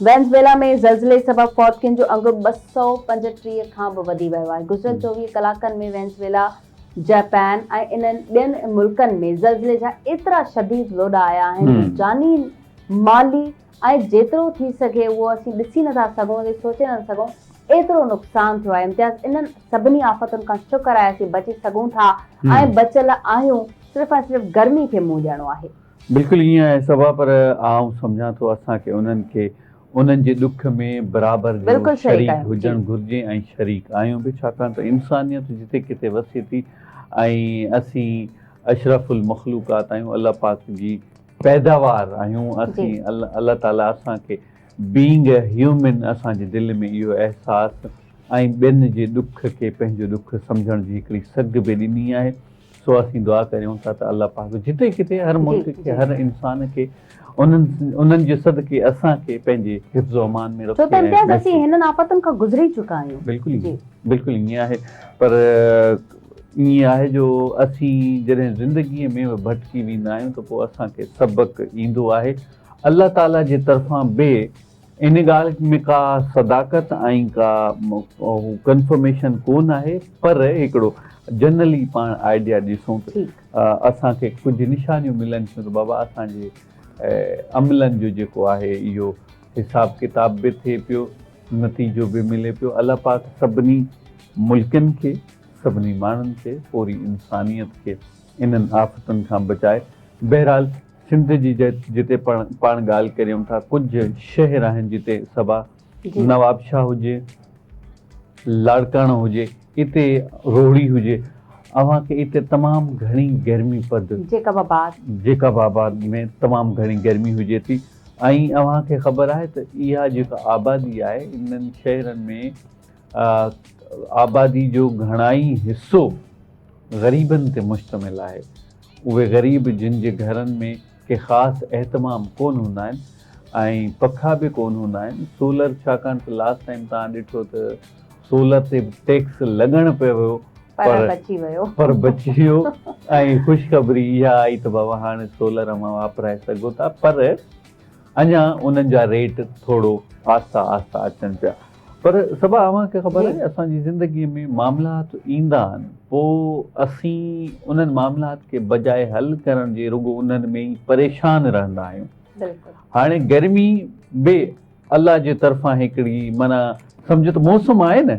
Venezuela ۾ زلزلي سبب فوتگين جو انگ ٻه سؤ پنجٽيهه کان به وڌي ويو آهي. گذريل چوويهه ڪلاڪن ۾ وينزويلا، جاپان ۽ انهن ٻين ملڪن ۾ زلزلي جا ايترا شديد لوڏا آيا آهن جو جاني، مالي ۽ جيترو ٿي سگهي اهو اسين ڏسي نٿا سگهون ۽ سوچي نٿا سگهون ايترو نقصان ٿيو آهي. امتياز انهن سڀني آفتن کان شڪر آهي اسين بچي سگهون ٿا ۽ بچيل آهيون صرف ۽ صرف گرمي کي منهن ڏيڻو آهي. بلڪل ائين آهي صبا پر آئون سمجهان ٿو اسان کي انهن کي انهن جي ڏک ۾ برابر جو شريڪ هجڻ گهرجي ۽ شريڪ آهيون به ڇاڪاڻ ته انسانيت جتي ڪٿي وسي ٿي ۽ اسين اشرف المخلوقات آهيون الله پاڪ جي پيداوار آهيون اسين الله تعالي اسان کي بينگ اي هيومن اسان جي دل ۾ اهو احساس ۽ ٻين جي ڏک کي پنهنجو ڏک سمجهڻ جي هڪڙي سگهه به ڏني آهي سو اسين دعا ڪريون ٿا ته الله پاڪ جتي ڪٿي هر ملڪ کي هر انسان کي انهن انهن جي صدقي اسان کي پنهنجي حفظ و امان ۾ رکي ڇو ته امتياز اسين هنن آفتن کان گذري چڪا آهيون بلڪل ائين بلڪل ائين آهي پر ائين آهي جو اسين جڏهن زندگي ۾ ڀٽڪي ويندا آهيون ته پوء اسان کي سبق ايندو آهي الله تعالي جي طرفان به ان ڳالهه ۾ ڪا صداقت ۽ ڪا ڪنفرميشن ڪو نه آهي پر هڪڙو جنرلي پاڻ آئيڊيا ڏسون ته اسان کي ڪجهه نشانيون ملن ٿيون ته بابا اسان جي عملن جو جيڪو آهي اهو حساب ڪتاب به ٿئي پيو نتيجو به ملي پيو الله پاڪ سڀني ملڪن کي سڀني ماڻهن کي پوري انسانيت کي انهن آفتن کان بچائي بهرحال سنڌ جي جتي پاڻ ڳالهه ڪريون ٿا ڪجهه شهر آهن جتي صبا نوابشاهه هجي لاڙڪاڻو هجي اتي روهڙي هجي اوهان کي اتي تمام گهڻي گرمي پد جيڪب آباد جيڪب آباد ۾ تمام گهڻي گرمي هجي ٿي ۽ اوهان کي خبر آهي ته اها جيڪا آبادي آهي انهن شهرن ۾ آبادي جو گهڻائي حصو غريبن تي مشتمل آهي اهي غريب جن جي گهرن ۾ ڪي خاص اهتمام ڪونه هوندا آهن ۽ پکا به ڪونه هوندا آهن سولر ڇاڪاڻ ته لاسٽ ٽائيم توهان ڏٺو ته سولر تي به ٽيڪس لڳڻ پئي ويو پر بچي ويو پر بچي ويو ۽ خوشخبري اها آئي ته بابا هاڻي سولر اوهان واپرائي سگهو ٿا پر اڃا انهن جا ريٽ ٿورو آهسته آهسته اچن پيا پر صبا اوهان کي خبر آهي اسان جي زندگي ۾ معاملات ايندا آهن پوء اسين انهن معاملات کي بجاء حل ڪرڻ جي رڳو انهن ۾ ئي پريشان رهندا آهيون هاڻي گرمي به الله جي طرفان هڪڙي معنيٰ سمجهه ته موسم آهي نه